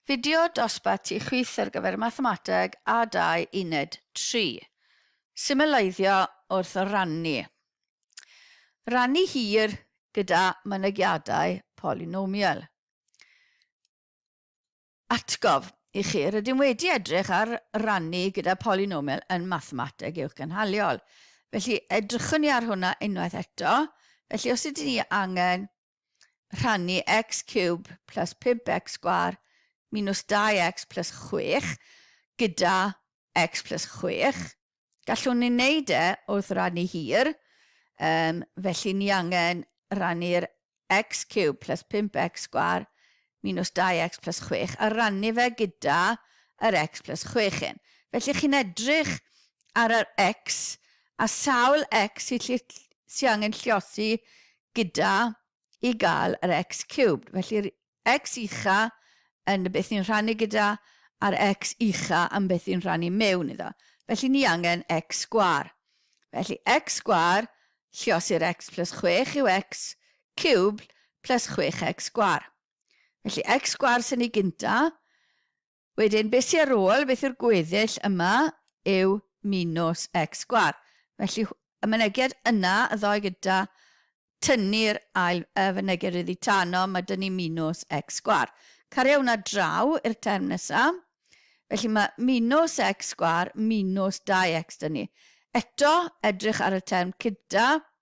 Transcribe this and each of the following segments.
Fideo dosbarth tu chwith ar gyfer Mathemateg A2 Uned 3. Symleiddio wrth rannu. Rannu hir gyda mynegiadau polynomial. Atgof i chi, rydym wedi edrych ar rannu gyda polynomial yn Mathemateg Uwch Gynhaliol. Felly, edrychwn ni ar hwnna unwaith eto. Felly, os ydyn ni angen rhannu x cube plus 5x sgwar minus 2x plus 6 gyda x plus 6. Gallwn ni wneud e wrth rannu hir, um, felly ni angen rannu'r x cube plus 5x sgwar minus 2x plus 6 a rannu fe gyda yr x plus 6 hyn. Felly chi'n edrych ar yr x a sawl x sy'n sy angen lliosi gyda i gael yr x cubed. Felly'r x ucha yn beth ni'n rhannu gyda a'r x ucha yn beth ni'n rhannu mewn iddo. Felly ni angen x sgwar. Felly x sgwar lliosi'r x plus 6 yw x cubed plus 6x sgwar. Felly x sgwar sy'n ni gynta, Wedyn, beth sy ar ôl, beth yw'r gweddill yma, yw minws x sgwâr. Felly, y mynegiad yna, y ddoe gyda tynnu'r ail fynegiad oddi tano, mae 'da ni minws x sgwâr. Cario hwnna draw i'r term nesa. Felly, mae minws x sgwâr minws 2x 'da ni. Eto, edrych ar y term cyda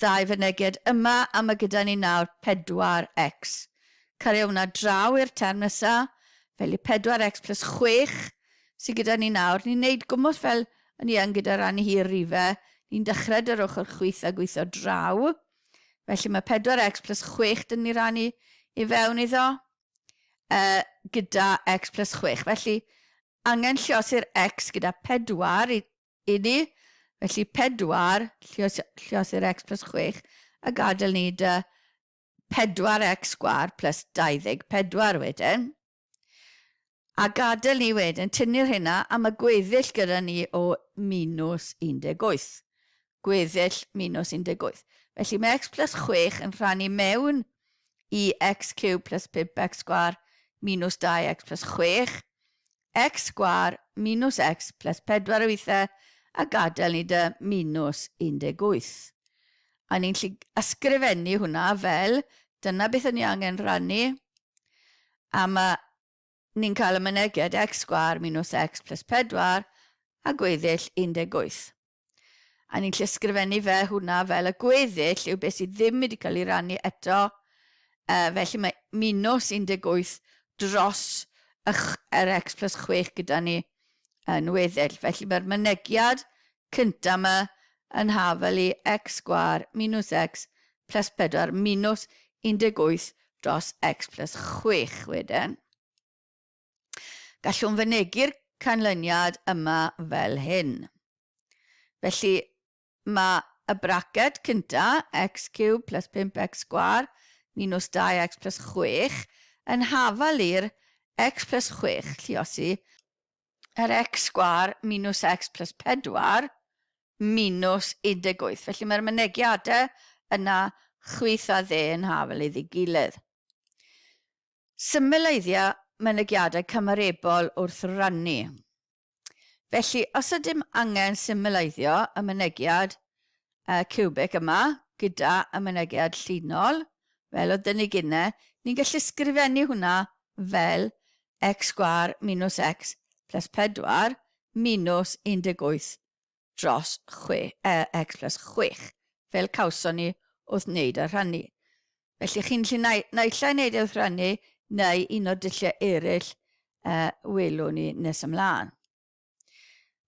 ddau fynegiad yma a ma' gyda ni nawr pedwar ecs. Cario hwnna draw i'r term nesa, felly pedwar ecs plys chwech sy gyda ni nawr. Ni'n neud gwmws fel o'n i yn gyda ran hir rife, ni'n dechre 'da'r ochor chwith a gwitho draw. Felly ma' pedwar ecs plys chwech 'da ni rannu i fewn iddo e gyda ecs plys chwech. Felly angen llosi'r ecs gyda pedwar i I ni, felly pedwar, lliosir x plus chwech, a gadael ni da pedwar x sgwâr plus dauddeg pedwar wedyn. A gadael ni wedyn tynnu'r hynna am y gweddill gyda ni o minws 18. Gweddill minws 18. Felly mae x plus chwech yn rhannu mewn i x cub plus pump x sgwâr minws dau x plus chwech, X sgwâr minws X ples pedwar yw eithe a gadael ni dy minws 18. A ni'n gallu ysgrifennu hwnna fel dyna beth o'n ni angen rannu a ma ni'n cael y myneged X sgwâr minws X ples pedwar a gweddill 18. A ni'n llysgrifennu fe hwnna fel y gweddill yw beth sydd ddim wedi cael ei rannu eto. Uh, felly mae minws 18 dros yr x plus 6 gyda ni yn weddill. Felly mae'r mynegiad cyntaf yma yn hafel i x sgwar minws x plus 4 minws 18 dros x plus 6 wedyn. Gallwn fynegi'r canlyniad yma fel hyn. Felly, mae y braced cynta, x ciwb plus 5x sgwar minus 2x plus 6, yn hafal i'r x plus 6 lluosi yr x sgwar minus x plus 4 minus 18. Felly mae'r mynegiadau yna chwith a dde yn hafal iddi gilydd. Symleiddia mynegiadau cymarebol wrth rannu. Felly, os ydym angen symleiddio y mynegiad ciwbig yma gyda y mynegiad llinol, fel oedd 'da ni gynne, ni'n gallu sgrifennu hwnna fel x sgwâr minws x plas pedwar minws 18 dros chwe X plus chwech, fel cawson ni wrth wneud y rhannu. Felly chi'n gallu nai-, naill ai wneud e wrth rannu neu un o'r dulliau eraill y welwn ni nes ymlaen.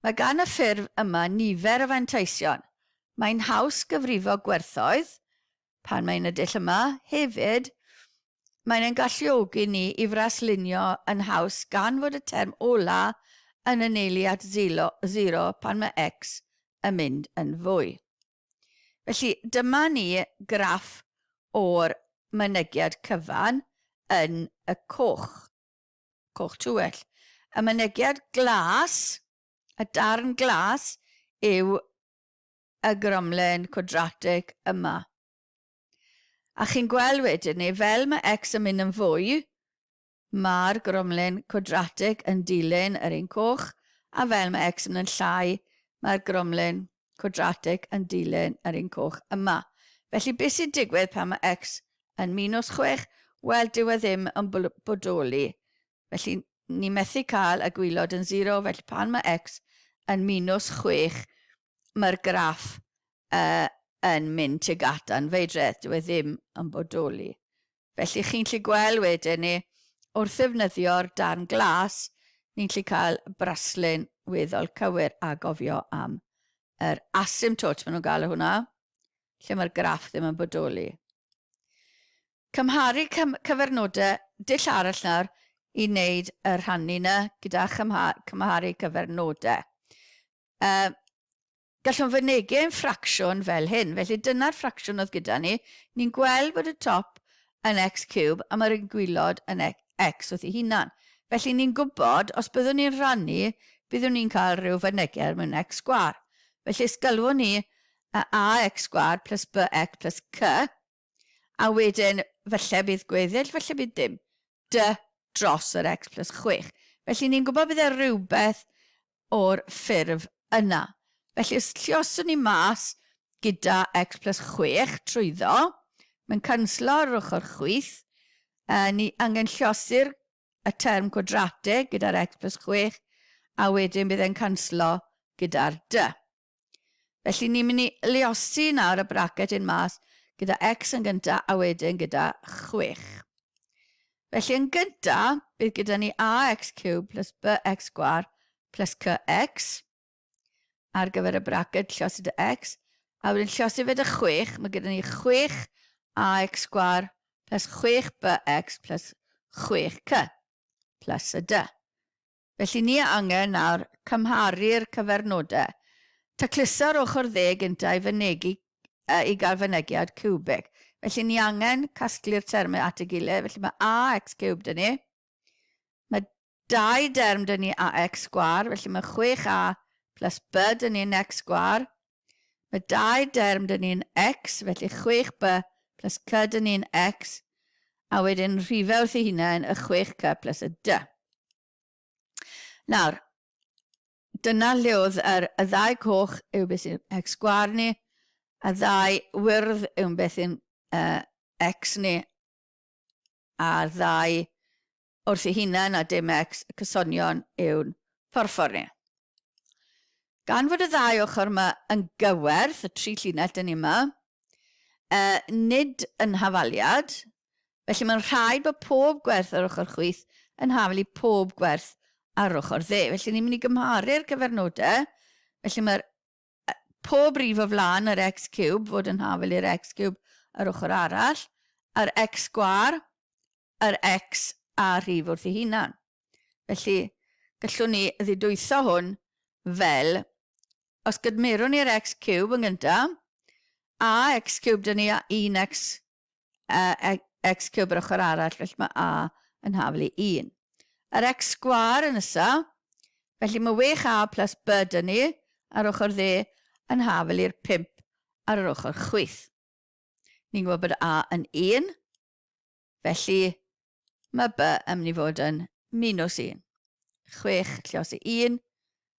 Mae gan y ffurf yma nifer o fanteision, mae'n haws gyfrifo gwerthoedd, Pan mae'n y dull yma, hefyd, mae'n ein galluogi ni i fraslunio yn haws gan fod y term ola yn anelu at zilo, zero pan mae x yn mynd yn fwy. Felly, dyma ni graff o'r mynegiad cyfan yn y coch, coch tuell. Y mynegiad glas, y darn glas, yw y gromlên cwadratig yma. A chi'n gweld wedyn ni, fel mae x yn mynd yn fwy, mae'r gromlên cwadratig yn dilyn yr un coch, a fel mae x yn mynd yn llai, mae'r gromlên cwadratig yn dilyn yr un coch yma. Felly, beth sy'n digwydd pan mae x yn minws chwech? Wel, dyw e ddim yn bodoli Felly, ni methu cael y gwylod yn zero, felly pan mae x yn minws chwech, mae'r graff uh, yn mynd tuag at anfeidredd, dyw e ddim yn bodoli. Felly chi'n gallu gweld wedyn ni, wrth ddefnyddio'r darn glas, ni'n gallu cael braslun weddol cywir a gofio am yr asymptot maen nhw'n gael o hwnna, lle mae'r graff ddim yn bodoli. Cymharu cyfernodau dull arall nawr i wneud y rhannu 'na gyda chymharu cyfernodau. Yy, gallwn fynegi ein ffracsiwn fel hyn. Felly dyna'r ffracsiwn oedd gyda ni. Ni'n gweld bod y top yn x cube a mae'r un gwylod yn x wrth ei hunan. Felly ni'n gwybod, os byddwn ni'n rhannu, byddwn ni'n cael rhyw fynegi er mwyn x sgwâr. Felly os galwwn ni a ax sgwâr plus bx plus c, A wedyn, falle bydd gweddill, falle bydd dim, dy dros yr x plus chwech. Felly ni'n gwybod bydd e rhywbeth o'r ffurf yna. Felly os llioswn ni mas gyda x plus chwech trwyddo, mae'n canslo yr ochr chwith, a ni angen lliosi'r y term cwadratig gyda'r x plus chwech, a wedyn bydd e'n canslo gyda'r dy. Felly ni'n mynd i luosi nawr y bracet hyn mas gyda x yn gynta a wedyn gyda 6. Felly yn gynta, bydd gyda ni ax cube plus bx gwar plus cx ar gyfer y bracet llosi dy x, a wedyn llosi fe dy 6, mae gyda ni 6 ax gwar plus 6 bx plus 6 cy plus y dy. Felly ni a angen nawr cymharu'r cyfernodau. Taclusa'r ochr dde gyntaf i fynegi yy i gael fynegiad ciwbig. Felly ni angen casglu'r termau at ei gilydd, felly mae ax ciwb 'da ni. Mae dau derm 'da ni ax sgwâr, felly mae 6a plus b 'da ni yn x sgwâr. Mae dau derm dyn ni'n X, felly 6b plus c dyn ni'n X, a wedyn rhifau wrth ei hunain y 6c plus y d. Nawr, dyna lle oedd yr, y ddau coch yw beth sy'n x sgwar ni, a ddau wyrdd yw beth sy'n uh, x ni, a'r ddau wrth ei hunan a dim ex cysonion yw'n phorffor ni. Gan fod y ddau ochr yma yn gywerth, y tri llinell dyn ni yma, e, nid yn hafaliad, felly mae'n rhaid bod pob gwerth ar ochr chwith yn hafal i pob gwerth ar ochr dde. Felly ni'n mynd i gymharu'r cyfernodau, felly mae'r pob rif o flaen yr x ciwb fod yn hafel i'r x ciwb yr ochr arall, yr x sgwâr, yr x a rhif wrth ei hunan. Felly, gallwn ni ddidwytho hwn fel, os gydmerwn ni'r x ciwb yn gyntaf, a x ciwb 'da ni a un x a x cub yr ochr arall, felly mae a yn haflu 1. Yr x sgwar yn ysa, felly mae 6a plus b dyn ni ar ochr dde yn haflu i'r 5 ar yr ochr chwith. Ni'n gwybod bod a yn 1, felly mae b yn mynd i fod yn minus 1. 6 llios i 1,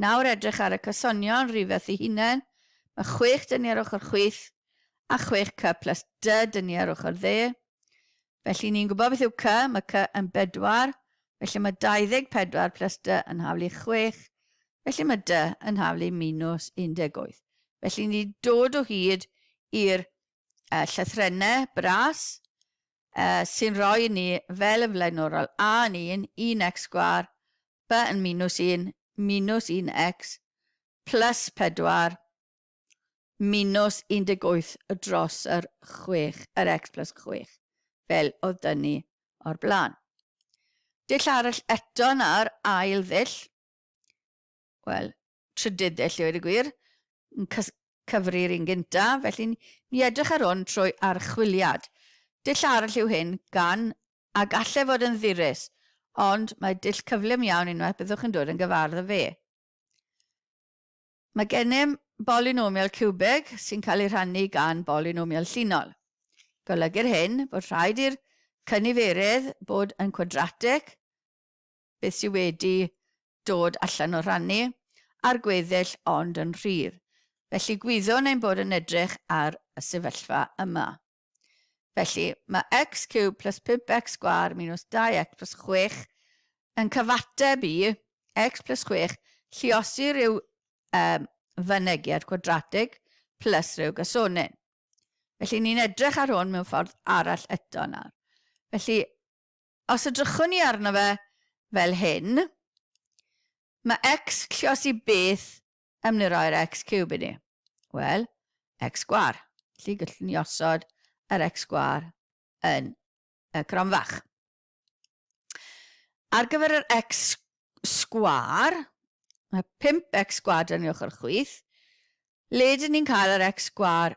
Nawr edrych ar y cysonion rhifeth i hunain, mae chwech dyni ar ochr chwith a chwech cy plus dy dyni ar ochr dde. Felly ni'n gwybod beth yw cy, mae cy yn bedwar, felly mae 24 plus dy yn haflu chwech, felly mae dy yn haflu minws 18. Felly ni'n dod o hyd i'r uh, llythrennau bras uh, sy'n rhoi ni fel y flaenorol a yn un, un x sgwar ba yn minws un, minws un X, plus pedwar, minws un deg wyth dros yr chwech, yr X plus chwech, fel oedd dyn ni o'r blaen. Dull arall eto nawr, ail ddull, wel, trydydd de, lle oedd y gwir, yn cyfri'r un gynta, felly ni edrych ar hwn trwy archwiliad. Dull arall yw hyn, gan a galle fod yn ddyrus, ond mae dull cyflym iawn unwaith byddwch yn dod yn gyfardd â fe. Mae gennym bolynomial ciwbeg sy'n cael ei rhannu gan bolynomial llinol. Golygu'r hyn bod rhaid i'r cyniferydd bod yn cwadratig beth sydd wedi dod allan o rannu a'r gweddill ond yn rhydd. Felly gwyddwn ein bod yn edrych ar y sefyllfa yma. Felly, mae x cube plus 5x sgwâr minus 2x plus 6 yn cyfateb i x plus 6 lliosi rhyw um, fynegiad cwadratig plus rhyw gasonyn. Felly ni'n edrych ar hwn mewn ffordd arall eto nawr. Felly Os edrychwn ni arno fe fel hyn, mae x clos i beth am ni roi'r x ciwb i ni? Wel, x sgwâr. Felly gallwn ni osod yr x sgwâr yn y cronfach. Ar gyfer yr x sgwâr, mae 5x sgwâr dan ni ochr chwith, le dyn ni'n cael yr x sgwâr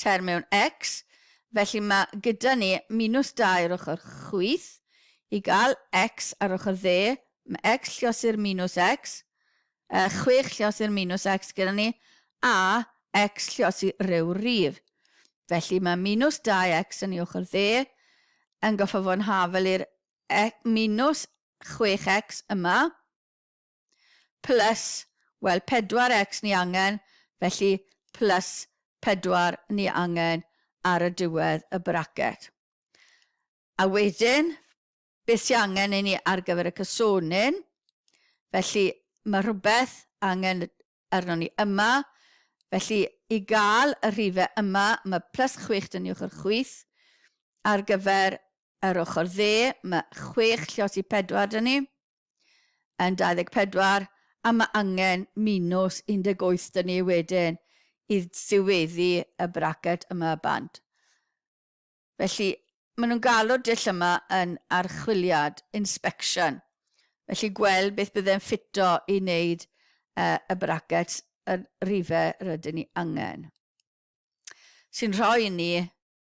tair mewn X, felly mae gyda ni minws 2 ar ochr chwith, i gael X ar ochr dde, mae X llios i'r minws X, yy, 6 llios i'r minws X gyda ni, a X llios i ryw rif. Felly mae minws 2X yn ei ochr dde yn gorfod fod yn hafel i'r e- minws 6X yma, Plus, wel 4x ni angen, felly plus 4 ni angen ar y diwedd y braced. A wedyn, beth sy'n angen i ni ar gyfer y cysonyn? Felly, mae rhywbeth angen arno ni yma. Felly, i gael y rhifau yma, mae plus 6 dyn ni ochr chwith. Ar gyfer yr ochr dde, mae 6 llios i 4 dyn ni. yn 24 a mae angen minws 18 'da ni wedyn i ddiweddu y bracet yma bant. Felly, maen nhw'n galw'r dull yma yn archwiliad, inspection, felly gweld beth byddai'n ffito i wneud uh, y bracet y rhifau rydyn ni angen. Sy'n rhoi ni